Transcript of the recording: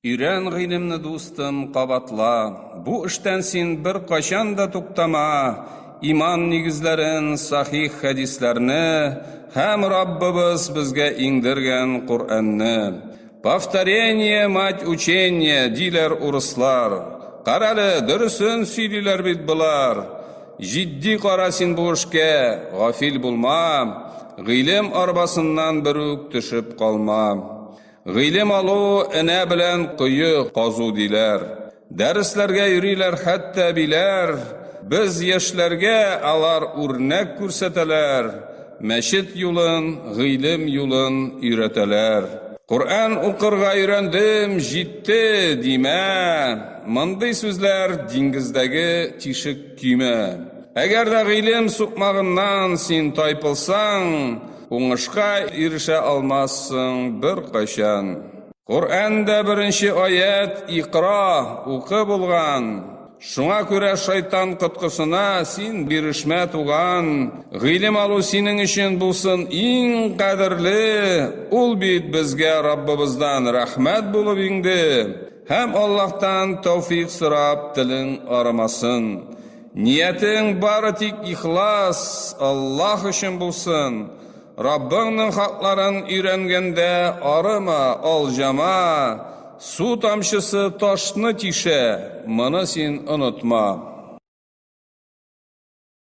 Өйрән гыйлемне, дустым, кабатла, Бу эштән син беркайчан да туктама, Иман нигезләрен, сахих хәдисләрне Һәм Раббыбыз безгә иңдергән Коръәнне. Повторение, мать учения, диләр урыслар. Карале, дөресен сөйлиләр бит болар. Җитди кара син бу эшкә, гафил булма, Гыйлем арбасыннан берүк төшеп калма. Гыйлем алу энә белән кое казу диләр. Дәресләргә йөриләр хәтта әбиләр. Без яшьләргә алар үрнәк күрсәтәләр. Мәчет юлын, гыйлем юлын өйрәтәләр. Коръән укырга өйрәндем, җитте, димә. Мондый сүзләр диңгездәге тишек көймә. Әгәр дә гыйлем сукмагыннан син тайпылсаң, Уңышка ирешә алмассың беркайчан. Коръәндә беренче аять Икра, укы булган. Шуңа күрә шайтан коткысына син бирешмә, туган. Гыйлем алу синең өчен булсын иң кадерле, ул бит безгә Раббыбыздан рәхмәт булып иңде. Һәм Аллаһтан тәүфик сорап телең арымасын. Ниятең бары тик ихлас, Аллаһ өчен булсын. Раббыңның хакларын өйрәнгәндә арыма, алҗама. Су тамчысы ташны тишә, моны син онытма.